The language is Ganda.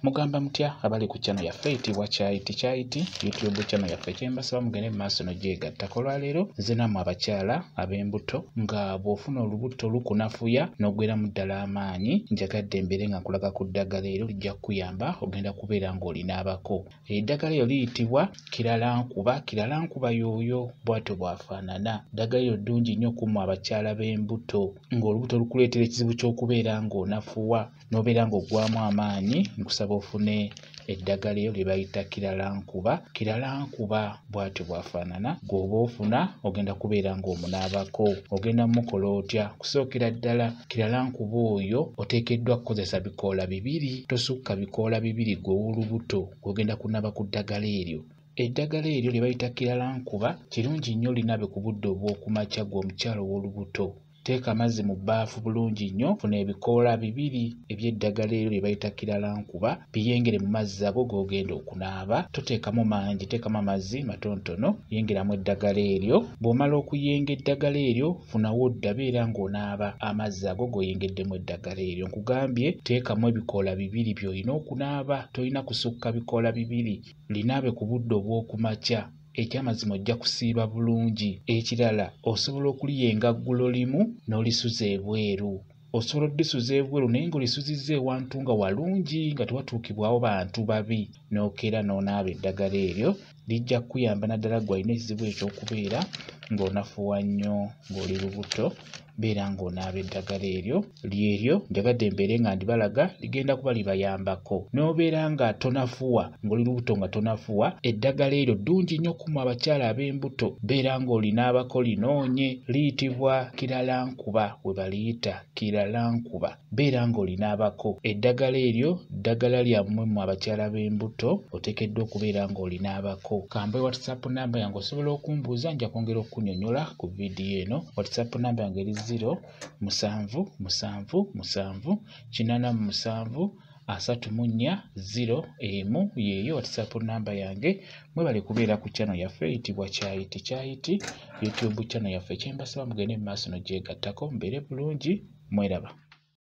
mugamba mutya abali ku channel yaffe eyitibwa kyayiti kyayiti youtube channel yaffe kyembasaba mugende mu maaso nogyegattako olwaleero nze namwe abakyala ab'embuto nga bw'ofuna olubuto lukunafuya n'ogweramu ddala amaanyi njagadde embeere nga nkulaga ku ddagala ero lijja kukuyamba ogenda kubeera ng'olinaabako eddagala eryo liyitibwa kiralankuba kiralankuba yooyo bwatyo bwafaanana ddagala eryo ddungi nnyo kumwe abakyala b'embuto ng'olubuto lukuleetera ekizibu ky'okubeera ng'onafuwa n'obeera ng'oggwamu amaanyi nkusaba ofune eddagala eyo lye bayita kiralankuba kiralankuba bw'atyo bw'afaanana gw'oba ofuna ogenda kubeera ng'omunaabako ogenda mukola otya kusookera ddala kiralankuba oyo oteekeddwa kukozesa bikoola bibiri tosukka bikoola bibiri gw'ow'olubuto gw'ogenda kunaaba ku ddagala eryo eddagala eryo lye bayita kiralankuba kirungi nnyo olinabe ku budde obw'okumakya gw'omukyala ow'olubuto Teeka amazzi mu bbaafu bulungi nnyo, funa ebikoola bibiri eby'eddagala eryo lye bayita kiralankuba, biyengere mu mazzi ago g'ogenda okunaaba. Toteekamu mangi, teekamu amazzi matonotono, yengeramu eddagala eryo. Bw'omala okuyenga eddagala eryo, funa w'odda beera ng'onaaba amazzi ago g'oyengeddemu eddagala eryo. Nkugambye teekamu ebikoola bibiri by'olina okunaaba, tolina kusukka bikoola bibiri. Linaabe ku budde obw'oku makya. ekyamazima ojja kusiiba bulungi ekirala osobola okuliya engaggulo limu n'olisuza ebweru osobola oddisuza ebweru naye ng'olisuzizza ewantu nga walungi nga tewatuukibwawo bantu babi n'okeera n'onaaba eddagala eryo lijja kukuyamba naddala gwe alina ekizibu ekyokubeera ng'onafuwa nnyo ng'oli lubuto beera ng'onaaba eddagala eryo lyeryo njagadde mbeere nga ndibalaga ligenda kuba libayambako n'obeera nga tonafuwa ng'oli lubuto nga tonafuwa eddagala eryo ddungi nnyo kumu abakyala ab'embuto beera ng'olinaabako linoonye liyitibwa kiralankuba we baliyita kiralankuba beera ng'olina abako eddagala eryo ddagala lyammwe mu abakyala b'embuto oteekeddwa okubeera ng'olina abako kambe whatsapp namba yange osobola okumbuuza nja kwongera okukunyonyola ku vidiyo eno whatsapp namba yange eri 0 musanvu musanvu musanvu kinana mu musanvu asatu mu nnya ziro emu yeeyo whatsapp namba yange mwebale kubeera ku channel yaffe eyitibwa kyayiti kyayiti youtube channel yaffe kyembasaba mugende mu maaso nogyegattako mbeere bulungi mweraba